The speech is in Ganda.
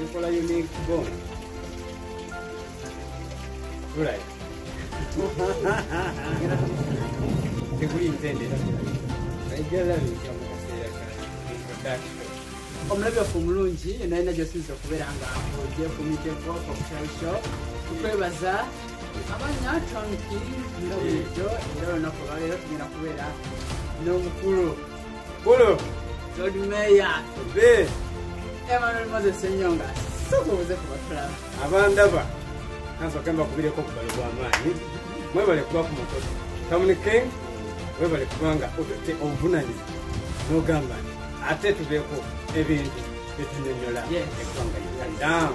Enkola y'emyezi kibona tulai teguli ntendera omulabi waffe omulungi nalina gyosinza okubeera nga oje ku miteko kokutalsho kukwebaza abanya tonki nga bulijjo era olunaku olwaleero tugenda kubeera n'omukulu Bolo. Lord Mayor. Be. Emmanuel Moses Senyonga. Soko uze kubatula. Abandaba. Kanso kamba kubire ko kubalo kwa amani. Mwe bale kuba ku moto. Tamuni King. Mwe bale kubanga otote obunani. No gamba. Ate tubeko ebintu. Etunenyola. Yes. Ekwanga. Down.